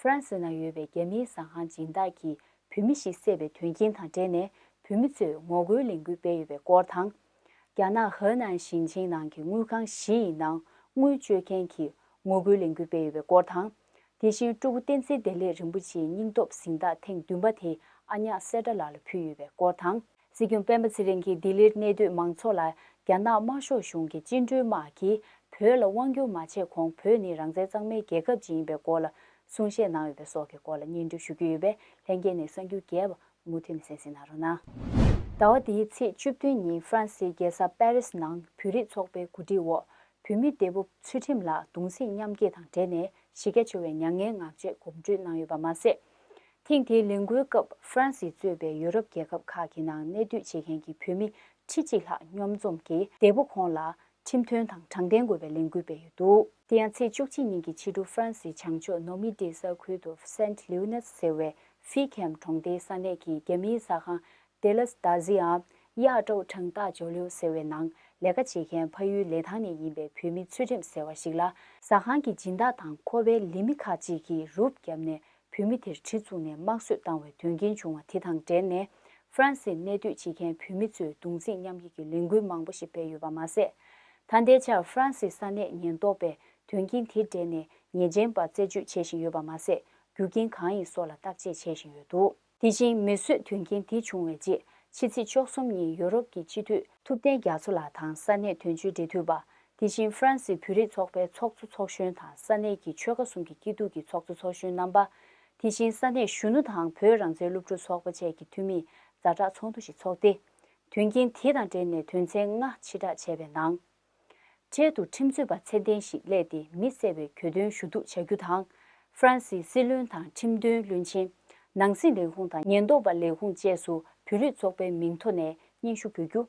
ཧྥ་རན་སི་ནང་ཡོད་པའི་རྒྱ་མིའི་ཟ་ཁང་སྦྱིན་བདག་གིས་བོད་མི་ཞིག་བསད་པའི་དོན་རྐྱེན་དང་འབྲེལ་ནས་བོད་མི་ཚོས་ངོ་རྒོལ་ལས་འགུལ་སྤེལ་ཡོད་པའི་སྐོར་དང། རྒྱ་ནག་ཧའེ་ནན་ཞིང་ཆེན་ནང་གི་དངུལ་ཁང་བཞི་ཡི་ནང་དངུལ་སྤྱོད་མཁན་གྱིས་ངོ་རྒོལ་ལས་འགུལ་སྤེལ་ཡོད་པའི་སྐོར་དང། དེ་བཞིན་སྤྲུལ་སྐུ་བསྟན་འཛིན་བདེ་ལེགས་རིན་པོ་ཆེའི་སྙིང་སྟོབས་གཟེངས་རྟགས་ཐེངས་བདུན་པ་དེ་ཨ་ཉག་སེ་སྒྲ་ལགས་ལ་ཕུལ་ཡོད་པའི་སྐོར་དང། སྲིད་སྐྱོང་སྤེན་པ་ཚེ་རིང་གིས་ལྡི་ལིར་གནས་སྡོད་མང་ཚོགས་ལ་རྒྱ་ནག་དམར་ཤོག་གཞུང་གི་བཅིངས་འགྲོལ་དམག་གིས་བོད་ལ་དབང་བསྒྱུར་མ་བྱས་གོང་བོད་ནི་རང་བཙན་གཙང་མའི་རྒྱལ་ཁབ་ཅིག་ཡིན་པའི་སྐོར་ལ་གསུང་བཤད་གནང་ཡོད་པའི་སོགས་ཀྱི་སྐོར་ལ་སྙན་སྒྲོན་ཞུ་རྒྱུ་ཡོད་པས་ལྷན་རྒྱས་ནས་གསང་རྒྱུ་རྒྱས་པ་མུ་མཐུད་ནས་གསན་གཟིགས་གནང་རོགས་གནང། ཟླ་བ་འདིའི་ཚེས་བཅུ་བདུན་ཉིན་ཧྥ་རན་སིའི་རྒྱལ་ས་པེ་རིས་ནང་བོད་རིགས་ཚོགས་པའི་གོ་སྒྲིག་འོག་བོད་མི་འདས་པོ་ཚུལ་ཁྲིམས་ལགས་གདུང་སེམས་མཉམ་སྐྱེད་དང་འབྲེལ་ནས་གཞི་རྒྱ་ཆེ་བའི་མྱ་ངན་ངག་བཅད་གོམ་བགྲོད་གནང་ཡོད་པ་མ་ཟད། ཐེངས་དེའི་ལས་འགུལ་སྐབས་ཧྥ་རན་སིས་གཙོས་པའི་ཡོ་རོབ་རྒྱལ་ཁབ་ཁག་གི་ནང་གནས་སྡོད་བྱེད་མཁན་གྱི་བོད་མི་ཁྲི་གཅིག་ལྷག་སྙོམས་འཛོམས་ཀྱིས་འདས་པོ་ཁོང་ལ་ཁྲིམས་མཐུན་དང་དྲང་བདེན་དགོས་པའི་ལས་འགུལ་སྤེལ་ཡོད་འདུག། དེ་ཡང་ཚེས་བཅུ་གཅིག་ཉིན་གྱི་ཕྱི་དྲོ་ཧྥ་རན་སིའི་བྱང་ཕྱོགས་ནོ་མི་ཏེ་ས་ཁུལ་དུ Saint Leonards ཟེར་བའི་ཧྥི་ཁེམ་གྲོང་སྡེའི་ས་གནས་ཀྱི་རྒྱ་མིའི་ཟ་ཁང Delas D'Aziam། གཡག་ཀྲོའུ་ཁྲང་ཏཱ་ཇོ་ལིའུ་ཟེར་བའི་ནང་ལས་ཀ་བྱེད་མཁན་ཕ་ཡུལ་ལེ་ཐང་ནས་ཡིན་པའི་བོད་མི་ཚུལ་ཁྲིམས་ཟེར་བ་ཞིག་ལ་ཟ་ཁང་གི་སྦྱིན་བདག་དང་ཁོ་པའི་ལས་མི་ཁག་ཅིག་གིས་རུབ་བརྒྱབ་ནས་བུད་མེད་དེར་གྲི་བཙུགས་ནས་དམག་གསོད་བཏང་བའི་དོན་རྐྱེན་བྱུང་བ་དེ་དང་འབྲེལ་ནས་ཧྥ་རན་སིར་གནས་སྡོད་བྱེད་མཁན་བུད་མེད་ཚོས་གདུང་ཚིག་མཉམ་ཡིག་གི་ལས་འགུལ་མང་པོ་ཞིག་སྤེལ་ཡོད་པ་མ་ཟད། ད་ལྟའི་ཆར་ཧྥ་རན་སིའི་ས་གནས་ཉེན་རྟོག་པས་དོན་རྐྱེན་དེ་འབྲེལ་ནས་ཉེས་ཅན་པ་རྩད་གཅོད་བྱེད་བཞིན་ཡོད་པ་མ་ཟད་རྒྱུ་རྐྱེན་གང་ཡིན་སོགས་ལ་བརྟག་དཔྱད་བྱེད་བཞིན་ཡོད་འདུག། དེ་བཞིན་མེ་གསོད་དོན་རྐྱེན་དེ་བྱུང་བའི་རྗེས་ཕྱི་ཚེས་བཅོ་གསུམ་ཉིན་ཡུ་རོབ་ཀྱི་སྤྱི་འཐུས་ཐུབ་བསྟན་རྒྱ་མཚོ་ལགས་དང་ས་གནས་དོན་གཅོད་འབྲེལ་མཐུད་པ། དེ་བཞིན་ཧྥ་རན་སི་བོད་རིགས་ཚོགས་པའི་ཚོགས་གཙོ་ཚོགས་གཞོན་དང་ས་གནས་ཀྱི་ཆོལ་ཁ་གསུམ་གྱི་སྐྱིད་སྡུག་གི་ཚོགས་གཙོ་ཚོགས་གཞོན་རྣམ་པ། དེ་བཞིན་ས་གནས་གཞོན་ནུ་དང་བོད་རང་བཙན་སློབ་ཕྲུག་ཚོགས་པ་བཅས་ཀྱི་འཐུས་མིས་མཛའ་གྲགས་ཚོགས་འདུ་ཞིག་ཚོགས་ཏེ། དོན་རྐྱེན་དེ་དང་འབྲེལ་ནས་དོན་ཚན་ལྔ་ཕྱིར་བསྒྲགས་བྱས་པའི་ནང། འཕྲལ་དུ་ཁྲིམས་རྩོད་པ་ཚད་ལྡན་ཞིག་གླས་ཏེ་མི་གསལ་བའི་གྱོད་དོན་ཞུ་གཏུག་བྱ་རྒྱུ་དང། ཧྥ་རན་སིའི་སྲིད་བློན་དང་ཁྲིམས་དོན་བློན་ཆེན། ནང་སྲིད་ལས་ཁུངས་དང་ཉེན་རྟོག་པ་ལས་ཁུངས་བཅས་སུ་བོད་རིགས་ཚོགས་པའི་མིང་ཐོ་ནས་སྙན་ཞུ་འབུལ་རྒྱུ།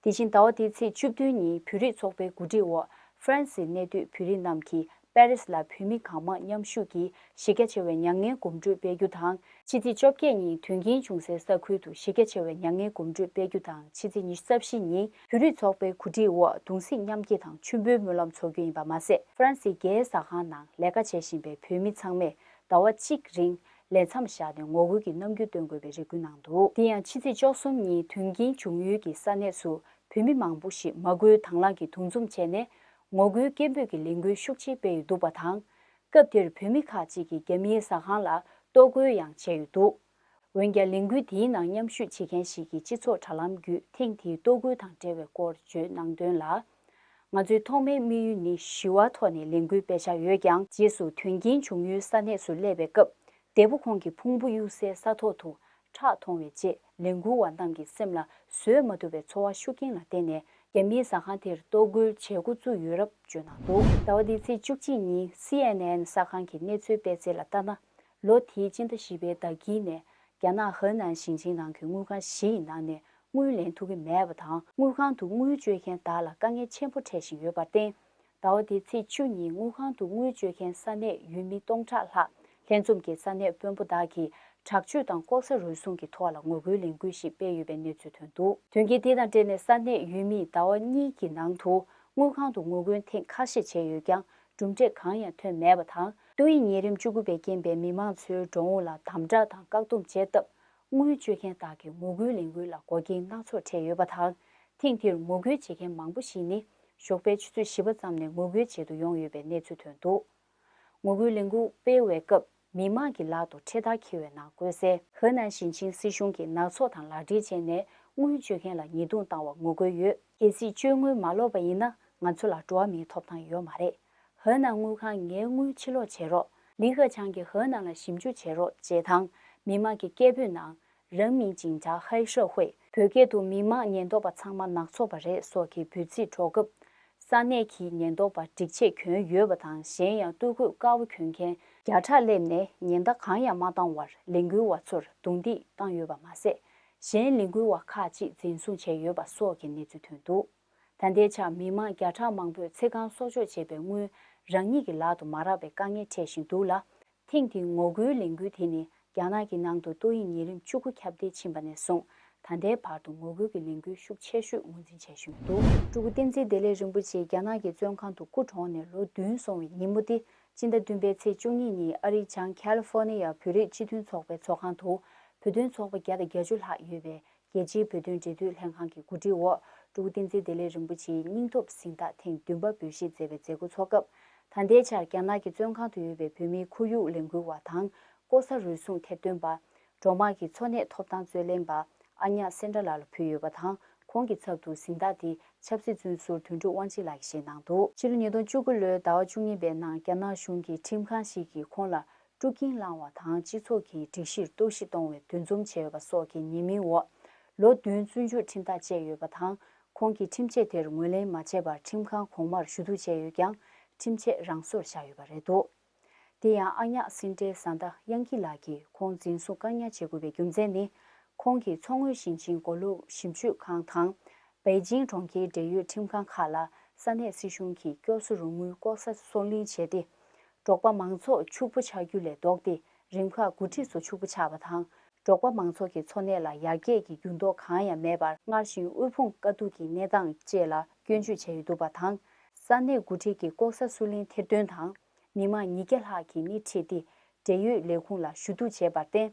དེ་བཞིན་ཟླ་བ་འདིའི་ཚེས་བཅུ་བདུན་ཉིན་བོད་རིགས་ཚོགས་པའི་གོ་སྒྲིག་འོག་ཧྥ་རན་སིའི་གནས་སྡོད་བོད་རིགས་རྣམས་ཀྱིས་པེ་རིས་ལ་བོད་མི་གང་མང་མཉམ་ཞུགས་ཀྱིས་གཞི་རྒྱ་ཆེ་བའི་མྱ་ངན་གོམ་བགྲོད་སྤེལ་རྒྱུ་དང་ཕྱི་ཚེས་བཅོ་བརྒྱད་ཉིན་དོན་རྐྱེན་བྱུང་སའི་ས་ཁུལ་དུ་གཞི་རྒྱ་ཆེ་བའི་མྱ་ངན་གོམ་བགྲོད་སྤེལ་རྒྱུ་དང་ཕྱི་ཚེས་ཉི་ཤུ་རྩ་བཞི་ཉིན་བོད་རིགས་ཚོགས་པའི་གོ་སྒྲིག་འོག་གདུང་སེམས་མཉམ་སྐྱེ་དང་མཆོད་འབུལ་སྨོན་ལམ་འཚོགས་རྒྱུ་ཡིན་པ་མ་ཟད། ཧྥ་རན་སིའི་རྒྱའི་ཟ་ཁང་ནང་ལས་ཀ་བྱེད་བཞིན་པའི་བོད་མི་ཚང་མས་ཟླ་བ་གཅིག་རིང་ལས་མཚམས་བཞག་ནས་ངོ་རྒོལ་གྱི་རྣམ་འགྱུར་སྟོན་དགོས་པའི་རེ་སྐུལ་གནང་འདུག་དེ་ཡང་ཕྱི་ཚེས་བཅོ་གསུམ་ཉིན་དོན་རྐྱེན་བྱུང་ཡུལ་གྱི་ས་གནས་སུ་བོད་མི་མང་པོ་ཞིག་མ་སྐུལ་དྭང་བླངས་ཀྱིས་འདུ་འཛོམས་བྱས་ནས་ངོ་རྒོལ་སྐད་འབོད་ཀྱི་ལས་འགུལ་ཤུགས་ཆེ་སྤེལ་ཡོད་འདུག་པ་དང། སྐབས་དེར་བོད་མི་ཁག་ཅིག་གིས་རྒྱ་མིའི་ཟ་ཁང་ལ་ལྟོ་རྒོལ་ཡང་བྱས་ཡོད་འདུག་འོན་ཀྱང་ལས་འགུལ་དེའི་ནང་མཉམ་ཞུགས་བྱེད་མཁན་ཞིག་གིས་སྤྱི་ཚོགས་དྲ་ལམ་བརྒྱུད་ཐེངས་དེའི་ལྟོ་རྒོལ་དང་འབྲེལ་བའི་སྐོར་བརྗོད་གནང་དོན་ལ། ང་ཚོའི་ཐོག་མའི་དམིགས་ཡུལ་ནི་ཞི་བ་ཐོག་ནས་ལས་འགུལ་སྤེལ་འཆར་ཡོད་ཀྱང་རྗེས་སུ་དོན་རྐྱེན་བྱུང་ཡུལ་ས་གནས་སུ་སླེབས་པའི་སྐབས་འདས་པོ་ཁོང་གི་ཕུང་པོ་གཡུལ་སའི་ས་ཐོག་ཏུ་ཁྲག་མཐོང་བའི་རྗེས་ལས་འགུལ་བ་རྣམས་ཀྱི་སེམས་ལ་བཟོད་མ་ཐུབ་པའི་ཚོར་བ་ཤུགས་རྐྱེན་ལ་བརྟེན་ནས་རྒྱ་མིའི་ཟ་ཁང་དེར་གཏོར་རྒོལ་བྱེད་འགོ་བཙུགས་ཡོད་རབས་བརྗོད་གནང་འདུག། ཟླ་བ་འདིའི་ཚེས་བཅུ་གཅིག་ཉིན་སི་ཨེན་ཨེན་གསར་ཁང་གི་གནས་ཚུལ་སྤེལ་ཚིག་ལ་ལྟ་ན། ལོ་དེའི་སྤྱི་ཟླ་བཞི་པའི་ཟླ་དཀྱིལ་ནས་རྒྱ་ནག་ཧི་ནན་ཞིང་ཆེན་ནང་གི་དངུལ་ཁང་བཞི་ཡི་ནང་ནས་དངུལ་ལེན་ཐུབ་ཀྱི་མེད་པ་དང་དངུལ་ཁང་དུ་དངུལ་བཅོལ་མཁན་དག་ལ་དཀའ་ངལ་ཆེན་པོ་འཕྲད་བཞིན་ཡོད་པར་བརྟེན། ཟླ་བ་དེའི་ཚེས་བཅུ་ཉིན་དངུལ་ཁང་དུ་དངུལ་བཅོལ་མཁན་ས་གནས་ཡུལ་མི་སྟོང་ཕྲག་ལྷག་ལྷན་འཛོམས་ཀྱིས་ས་གནས་དཔོན་པོ་དག་གིས་དྲག་སྤྱོད་དང་ལྐོག་ཟ་རུལ་སུངས་ཀྱི་ཐོག་ལ་ངོ་རྒོལ་ལས་འགུལ་ཞིག་སྤེལ་ཡོད་པའི་གནས་ཚུལ་ཐོན་འདུག། དོན་རྐྱེན་དེ་དང་འབྲེལ་ནས་ས་གནས་ཡུལ་མིས་ཟླ་བ་གཉིས་ཀྱི་ནང་དུ་དངུལ་ཁང་དུ་ངོ་རྒོལ་ཐེངས་ཁ་ཤས་བྱས་ཡོད་ཀྱང་གྲུབ་འབྲས་གང་ཡང་ཐོན་མེད་པ་དང། ཏུའུ་ཡིས་ཉེ་རིམ་བཅུ་དགུ་པའི་རྐྱེན་པས་མི་མང་ཚོའི་འགྲོ་འོང་ལ་དམ་དྲག་དང་བཀག་སྡོམ་བྱས་སྟབས་དངུལ་སྤྱོད་མཁན་དག་གི་ངོ་རྒོལ་ལས་འགུལ་ལ་མགོ་རྐྱེན་སྣ་ཚོགས་འཕྲད་ཡོད་པ་དང། ཐེངས་འདིར་ངོ་རྒོལ་བྱེད་མཁན་མང་པོ་ཞིག་ནི་ཞོགས་པའི་ཆུ་ཚོད་བཞི་པ་ཙམ་ནས་ངོ་རྒོལ་བྱེད་དུ་ཡོང་ཡོད་པའི་གནས་ཚུལ་ཐོན་འདུག་ངོ་རྒོལ་ལས་འགུལ་སྤེལ་བའི་སྐབས་མི་མང་གི་ལག་ཏུ་འཕྲེད་དར་འཁྱིལ་བའི་ནང་བཀོད་གསལ། ཧི་ནན་ཞིང་ཆེན་སྲིད་གཞུང་གིས་ནག་ཚོགས་དང་ལག་འབྲེལ་བྱས་ནས་དངུལ་སྤྱོད་མཁན་ལ་ཉེས་རྡུང་བཏང་བར་ངོ་རྒོལ་ཡོད། གལ་སྲིད་སྤྱོད་དངུལ་མ་ལོག་པ་ཡིན་ན་ང་ཚོ་ལ་འགྲོ་བ་མིའི་ཐོབ་ཐང་ཡོད་མ་རེད། ཧོས་ནང་དངུལ་ཁང་ངའི་དངུལ་ཕྱི་ལོག་བྱེད་རོགས། ལི་ཁ་ཆང་གིས་ཧོས་ནང་ལ་ཞིབ་འཇུག་བྱེད་རོགས་ཅེས་དང་མི་དམངས་ཀྱི་སྐད་འབོད་ནང་རང་མིང་ཅིང་ཅཱ་ཧའེ་ཧྲོ་ཧུའེ། བོད་སྐད་དུ་མི་དམངས་ཉེན་རྟོག་པ་ཚང་མ་ནག་ཚོགས་པ་རེད་སོགས་ཀྱི་འབོད་ཚིག་སྒྲོག་སྐབས། ས་གནས་ཀྱི་ཉེན་རྟོག་པ་སྒྲིག་ཆས་གྱོན་ཡོད་པ་དང་གཞན་ཡང་སྟོད་གོས་དཀར་བོ་གྱོན་མཁན་བརྒྱ་ཕྲག་སླེབས་ནས་ཉེན་བརྡ་གང་ཡང་མ་བཏང་བར་ལས་འགུལ་བ་ཚོར་རྡུང་རྡེག་བཏང་ཡོད་པ་མ་ཟད། གཞན་ལས་འགུལ་བ་ཁག་ཅིག་འཛིན་བཟུང་བྱས་ཡོད་པ་སོགས་ཀྱི་གནས་ཚུལ་ཐོན་འདུག། ད་ལྟའི་ཆར་མི་དམངས་བརྒྱ་ཕྲག་མང་པོས་ཚེ་གང་གསོག་འཇོག་བྱས་པའི་དངུལ་རང་ཉིད་ཀྱི་ལག་ཏུ་མ་རག་པའི་དཀའ་ངལ་འཕྲད་བཞིན་འདུག་ལ། ཐེངས་འདིའི་ངོ་རྒོལ་ལས་འགུལ་དེ་ནི་རྒྱ་ནག་གི་ནང་དུ་ཏོག་དབྱིབས་ཉེས་རིམས་བཅུ་དགུ་ཁྱབ་གདལ་ཕྱིན་པ་ནས་བཟུང་ད་ལྟའི་བར་དུ་ངོ་རྒོལ་གྱི་ལས་འགུལ་ཤུགས་ཆེ་ཤོས་ངོས་འཛིན་བྱས་བཞིན་འདུག། སྤྲུལ་སྐུ་བསྟན་འཛིན་བདེ་ལེགས་རིན་པོ་ཆེ་རྒྱ་ནག་གི་བཙོན་ཁང་དུ་སྐུ་གྲོངས་ནས་ལོ་བདུན་སོང་བའི་ཉིན་མོ་སྟེ་སྤྱི་ཟླ་བདུན་པའི་ཚེས་བཅུ་གཉིས་ཉིན་ཨ་རིའི་བྱང་ཀལ་ལི་ཧྥོ་ནི་ཡ་བོད་རིགས་སྤྱི་མཐུན་ཚོགས་པའི་ཚོགས་ཁང་དུ་བོད་དོན་ཚོགས་པ་བརྒྱ་དང་བརྒྱ་ཅུ་ལྷག་ཡོད་པའི་རྒྱལ་སྤྱིའི་བོད་དོན་འབྲེལ་མཐུད་ལྷན་ཁང་གི་གོ་སྒྲིག་འོག་ཀྲུའུ་བསྟན་འཛིན་བདེ་ལེགས་རིན་པོ་ཆེའི་སྙིང་སྟོབས་གཟེངས་རྟགས་ཐེངས་བདུན་པ་འབུལ་བཞེས་མཛད་པའི་མཛད་སྒོ་འཚོགས་སྐབས། ད་ལྟའི་ཆར་རྒྱ་ནག་གི་བཙོན་ཁང་དུ་ཡོད་པའི་བོད་མིའི་ཁོར་ཡུག་ལས་འགུལ་བ་དང་ལྐོག་ཟ་རུལ་སུངས་ཐེར་འདོན་པ། འབྲོག་དམངས་ཀྱི་འཚོ་གནས་ཐོབ་ཐང་རྩོད་ལེན་པ་ཨ་ཉག་སེ་འདྲ་ལགས་ལ་ཕུལ་ཡོད་པ་དང་ཁོང་གི་ཚབ་ཏུ་གཟེངས་རྟགས་དེ་ཆབ་སྲིད་བཙོན་ཟུར་དོན་གྲུབ་དབང་ཆེན་ལགས་ཀྱིས་བཞེས་གནང་འདུག། ཕྱི་ལོ་ཉིས་སྟོང་བཅུ་དགུ་ལོའི་ཟླ་བ་བཅུ་གཉིས་པའི་ནང་རྒྱ་ནག་གཞུང་གིས་ཁྲིམས་ཁང་ཞིག་གིས་ཁོང་ལ་དཀྲུག་རྐྱེན་བསླང་བ་དང་སྤྱི་ཚོགས་ཀྱི་སྒྲིག་གཞིར་གཏོར་བཤིག་གཏོང་བའི་འདུ་འཛོམས་བྱས་ཡོད་པ་སོགས་ཀྱི་ཉེས་མིང་འོག་ལོ་བདུན་བཙོན་འཇུག་ཁྲིམས་ཐག་བཅད་ཡོད་པ་དང་ཁོང་གིས་ཁྲིམས་ཆད་དེར་ངོས་ལེན་མ་བྱས་པར་ཁྲིམས་ཁང་གོང་མར་ཞུ་གཏུག་བྱས་ཡོད་ཀྱང་ཁྲིམས་ཆད་རང་སོར་བཞག་ཡོད་པ་རེད་འདུག་དེ་ཡང་ཨ་ཉག་སིན་ཏྲེ་བཟའ་ཟླ་དབྱང་ཁི་ལགས་ཀྱིས་ཁོང་འཛིན་བཟུང་བཀག་ཉར་བྱེད་དགོས་པའི་རྒྱུ་མཚན་ནི་ཁོང་གིས་མཚོ་སྔོན་ཞིང་ཆེན་མགོ་ལོག་ཞིབ་འཇུག་ཁང་དང། པེ་ཅིང་གྲོང་ཁྱེར་འབྲེལ་ཡོད་ཁྲིམས་ཁང་ཁག་ལ་ས་གནས་སྲིད་གཞུང་གིས་སྐྱོབ་གསོ་རོགས་དངུལ་ལྐོག་ཟ་བཟོ་གླིང་བྱས་ཏེ། འབྲོག་པ་མང་ཚོགས་ཕྱུག་པོ་ཆགས་རྒྱུ་ལས་ལྡོག་སྟེ་རིམ་ཁག་འགོ་ཁྲིད་ཚོ་ཕྱུག་པོ་ཆགས་པ་དང་འབྲོག་པ་མང་ཚོགས་ཀྱི་འཚོ་གནས་ལ་ཡར་རྒྱས་ཀྱི་འགྱུར་ལྡོག་གང་ཡང་མེད་པར་སྔར་བཞིན་དབུལ་ཕོངས་དཀའ་སྡུག་གི་གནས་སྟངས་བཅས་ལ་སྐྱོན་བརྗོད་བྱས་ཡོད་འདུག་པ་དང། ས་གནས་འགོ་ཁྲིད་ཀྱིས་ལྐོག་ཟ་སུའུ་ལིན་ཐེར་འདོན་དང་མི་མང་ཉིས་བརྒྱ་ལྷག་གིས་སྣེ་ཁྲིད་དེ་འབྲེལ་ཡོད་ལས་ཁུངས་ལ་ཞུ་གཏུག་བྱས་པར་བརྟེན།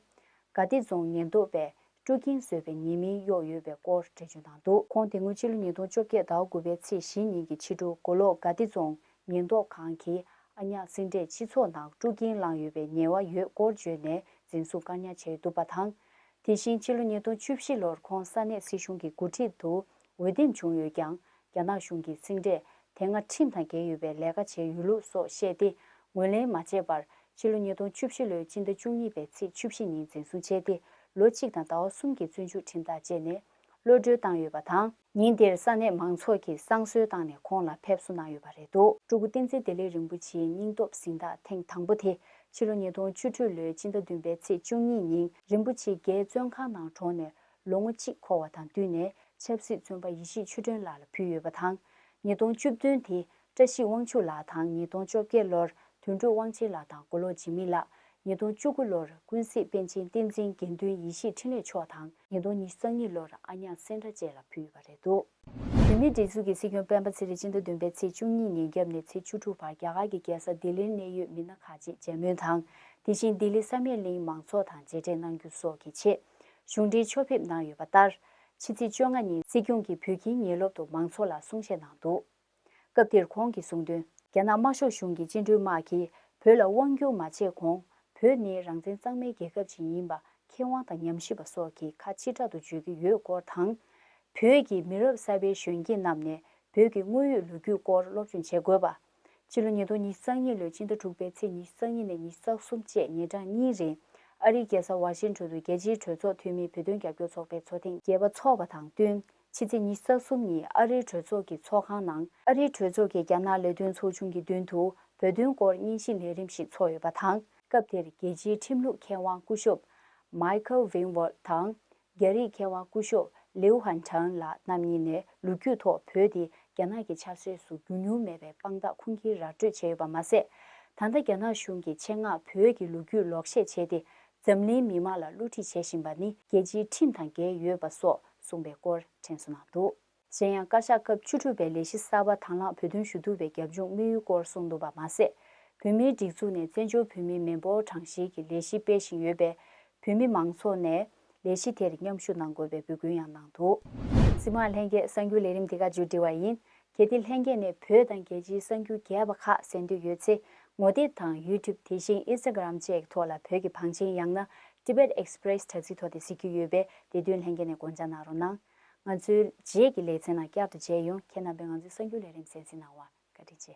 དགའ་བདེ་རྫོང་ཉེན་རྟོག་པས་སྤྲོ་སྐྱིན་བཟོས་པའི་ཉེས་མིང་གཡོགས་ཡོད་པའི་སྐོར་འགྲེལ་བརྗོད་གནང་འདུག་ཁོང་དེ་སྔོན་ཕྱི་ལོ་ཉིས་སྟོང་བཅོ་བརྒྱད་ཟླ་དགུ་པའི་ཚེས་བཞི་ཉིན་གྱི་ཕྱི་དྲོ་མགོ་ལོག་དགའ་བདེ་རྫོང་ཉེན་རྟོག་ཁང་གིས་ཨ་ཉག་སེང་འབྲས་སྤྱི་ཚོགས་ནང་སྤྲོ་སྐྱིན་བླངས་ཡོད་པའི་ཉེས་བ་ཡོད་སྐོར་བརྗོད་ནས་འཛིན་བཟུང་བཀག་ཉར་བྱས་འདུག་པ་དང། དེ་བཞིན་ཕྱི་ལོ་ཉིས་སྟོང་བཅུ་བཞི་ལོར་ཁོང་ས་གནས་སྲིད་གཞུང་གི་འགོ་ཁྲིད་དུ་འོས་འདེམས་བྱུང་ཡོད་ཀྱང་རྒྱ་ནག་གཞུང་གིས་ཚིག་འབྲས་དེ་སྔ་ཁྲིམས་དང་འགལ་ཡོད་པའི་ལས་ཀ་བྱས་ཡོད་ལུགས་སོགས་བཤད་དེ་ངོས་ལེན་མ་བྱས་པར་ཕྱི་ལོ་ཉིས་སྟོང་བཅུ་བཞི་ལོའི་སྤྱི་ཟླ་བཅུ་གཉིས་པའི་ཚེས་བཅུ་བཞི་ཉིན་འཛིན་བཟུང་བྱས་ཏེ་ལོ་གཅིག་དང་ཟླ་བ་གསུམ་གྱི་བཙོན་འཇུག་ཁྲིམས་ཐག་བཅད་ནས་ཀློད་གྲོལ་བཏང་ཡོད་པ་དང། ཉིན་དེར་ས་གནས་མང་ཚོགས་ཀྱིས་བསང་གསོལ་བཏང་ནས་ཁོང་ལ་ཕེབས་བསུ་གནང་ཡོད་པ་རེད་དོ། སྤྲུལ་སྐུ་བསྟན་འཛིན་བདེ་ལེགས་རིན་པོ་ཆེའི་སྙིང་སྟོབས་གཟེངས་རྟགས་ཐེངས་དང་པོ་དེ་ཕྱི་ལོ་ཉིས་སྟོང་བཅུ་དྲུག་ལོའི་སྤྱི་ཟླ་བདུན་པའི་ཚེས་བཅུ་གཉིས་ཉིན་རིན་པོ་ཆེ་རྒྱའི་བཙོན་ཁང་ནང་གྲོངས་ནས་ལོ་ངོ་གཅིག་འཁོར་བ་དང་བསྟུན་ནས་ཆབ་སྲིད་བཙོན་པ་ཡེ་ཤེས་ཆོས་སྒྲོན་ལགས་ལ་ཕུལ་ཡོད་པ་དང། ཉིས་སྟོང་བཅུ་བདུན་དེ་བཀྲ་ཤིས་དབང་ཕྱུག་ལགས་དང་ཉིས་སྟོང་བཅོ་བརྒྱད་ལོར་དོན་གྲུབ་དབང་ཆེན་ལགས་དང་མགོ་ལོག་འཇིགས་མེད་ལགས། ཉིས་སྟོང་བཅུ་དགུ་ལོར་ཀུན་གཟིགས་པཎ་ཆེན་བསྟན་འཛིན་དགེ་འདུན་ཡེ་ཤེས་འཕྲིན་ལས་མཆོག་དང། ཉིས་སྟོང་ཉིས་སང་གཉིས་ལོར་ཨ་ཉག་སེང་སྒྲ་བཅས་ལ་ཕུལ་ཡོད་པ་རེད་འདུག། བོད་མིའི་སྒྲིག་འཛུགས་ཀྱི་སྲིད་སྐྱོང་སྤེན་པ་ཚེ་རིང་སྤྱི་ཟླ་བདུན་པའི་ཚེས་བཅུ་གཉིས་ཉིན་བརྒྱབ་ནས་ཚེས་བཅུ་དྲུག་བར་རྒྱ་གར་གྱི་རྒྱལ་ས་ལྡི་ལིར་གནད་ཡོད་མི་སྣ་ཁག་ཅིག་མཇལ་མོལ་དང་དེ་བཞིན་ལྡི་ལི་ས་མེག་གླིང་མང་ཚོགས་དང་མཇལ་འཕྲད་གནང་རྒྱུ་སོགས་ཀྱི་ཆེད། གཞུང་འབྲེལ་ཕྱོགས་ཕེབས་གནང་ཡོད་པ་ལྟར། ཕྱི་ཚེས་བཅོ་ལྔ་ཉིན་སྲིད་སྐྱོང་གིས་བོད་ཁྱིའི་ཉེ་སློབ་ཏུ་མང་ཚོགས་ལ་གསུང་བཤད་གནང་འདུག་སྐབས་དེར་ཁོང་གིས་གསུངས་དོན། རྒྱ་ནག་དམར་ཤོག་གཞུང་གི་བཅིངས་འགྲོལ་དམག་གིས་བོད་ལ་དབང་བསྒྱུར་མ་བྱས་གོང་བོད་ནི་རང་བཙན་གཙང་མའི་རྒྱལ་ཁབ་ཅིག་ཡིན་པ་མཁས་དབང་དང་ཉམས་ཞིབ་པ་སོགས་ཀྱིས་ཁ་ཕྱི་དྲག་ཏུ་བརྗོད་ཀྱི་ཡོད་སྐོར་དང། བོད་ཀྱི་མི་རབས་གསར་པའི་གཞོན་སྐྱེས་རྣམས་ནས་བོད་ཀྱི་དངོས་ཡོད་ལོ་རྒྱུས་སྐོར་སློབ་སྦྱོང་བྱེད་དགོས་པ། སྤྱི་ལོ་ཉིས་སྟོང་ཉིས་བརྩེགས་གཉིས་ལོའི་སྤྱི་ཟླ་དྲུག་པའི་ཚེས་ཉིས་བརྩེགས་གཉིས་ནས་ཉིས་བརྩེགས་གསུམ་བཅས་ཉིན་གྲངས་གཉིས་རིང། ཨ་རིའི་རྒྱལ་ས་ཝ་ཤིན་ཁྲོན་དུ་རྒྱལ་སྤྱིའི་གྲོས་ཚོགས་འཐུས་མིའི་བོད་དོན་རྒྱབ་སྐྱོར་ཚོགས་པའི་ཚོགས་ཐེངས་བརྒྱད་པ་འཚོགས་པ་དང་བསྟུན་ཕྱི་ཚེས་ཉིས་བརྩེགས་གསུམ་ཉིན་ཨ་རིའི་གྲོས་ཚོགས་ཀྱི་ཚོགས་ཁང་ནང་ཨ་རིའི་གྲོས་ཚོགས་ཀྱི་རྒྱ་ནག་ལས་དོན་ཚོགས་ཆུང་གི་མདུན་དུ་བོད་དོན་སྐོར་སྙན་ཞུ་ལས་རིམ་ཞིག་ཚོགས་ཡོད་པ་དང། སྐབས་དེར་རྒྱལ་སྤྱིའི་ཁྲིམས་ལུགས་མཁས་དབང་སྐུ་ཞབས Michael Winwald དང་རྒྱ་རིགས་མཁས་དབང་སྐུ་ཞོགས་ལིའུ་ཧན་ཁྲང་ལགས་རྣམ་གཉིས་ནས་ལོ་རྒྱུས་ཐོག་བོད་དེ་རྒྱ་ནག་གི་ཆགས་སྲེད་སུ་འགྱུར་མྱོང་མེད་པའི་དཔང་རྟགས་ཁུངས་སྐྱེལ་ར་སྤྲོད་བྱས་ཡོད་པ་མ་ཟད། ད་ལྟ་རྒྱ་ནག་གཞུང་གིས་ཆེད་མངགས་བོད་ཀྱི་ལོ་རྒྱུས་ལོག་བཤད་བྱས་ཏེ་འཛམ་གླིང་མི་མང་ལ་བསླུ་ཁྲིད་བྱེད་བཞིན་པ་ནི་རྒྱལ་སྤྱིའི་ཁྲིམས་དང་འགལ་ཡོད་པ་སོགས་གསུངས་པའི་སྐོར་དྲན་གསོ་གནང་འདུག། གཞན་ཡང་བཀའ་ཤག་སྐབས་བཅུ་དྲུག་པའི་ལས་གཞི་གསར་པ་དང་བླངས་བོད་དོན་ཞུ་གཏུག་པའི་རྒྱབ་ལྗོངས་དམིགས་ཡུལ་སྐོར་གསུངས་འདུག་པ་མ་ཟད། བོད་མིའི་སྒྲིག་འཛུགས་ནས་བཙན་བྱོལ་བོད་མིའི་མི་འབོར་གྲངས་གཞིའི་གི་ལས་གཞི་སྤེལ་བཞིན་ཡོད་པས་བོད་མི་མང་ཚོགས་ནས་ལས་གཞི་དེར་མཉམ་ཞུགས་གནང་དགོས་པའི་འབོད་སྐུལ་ཡང་གནང་འདུག། སྲིད་དབང་ལྷན་རྒྱས་གསར་འགྱུར་ལས་རིམ་འདི་ག་མཇུག་སྒྲིལ་བ་ཡིན། གལ་ཏེ་ལྷན་རྒྱས་ནས་བོད་དང་རྒྱལ་སྤྱིའི་གསར་འགྱུར་རྒྱས་པ་ཁག་གསན་འདོད་ཡོད་ཚེ་ངོ་དེབ་དང YouTube དེ་བཞིན Instagram བཅས་ཀྱི་ཐོག་ལ་བོད་ཀྱི་བང་ཆེན་ཡང་ན Tibet Express དྲ་ཚིགས་ཐོག་དེ་གཟིགས་རྒྱུ་ཡོད་པས་དེ་དོན་ལྷན་རྒྱས་ནས་དགོངས་འཇགས་གནང་རོགས་གནང། ང་ཚོའི་རྗེས་ཀྱི་ལེ་ཚན་ནང་བསྐྱར་དུ་མཇལ་ཡོང་ཁྱེད་རྣམ་པས་ང་ཚོའི་གསར་འགྱུར་ལས་རིམ་གཟེངས་བསྲིངས་གནང་བར་བཀའ་དྲིན་ཆེ།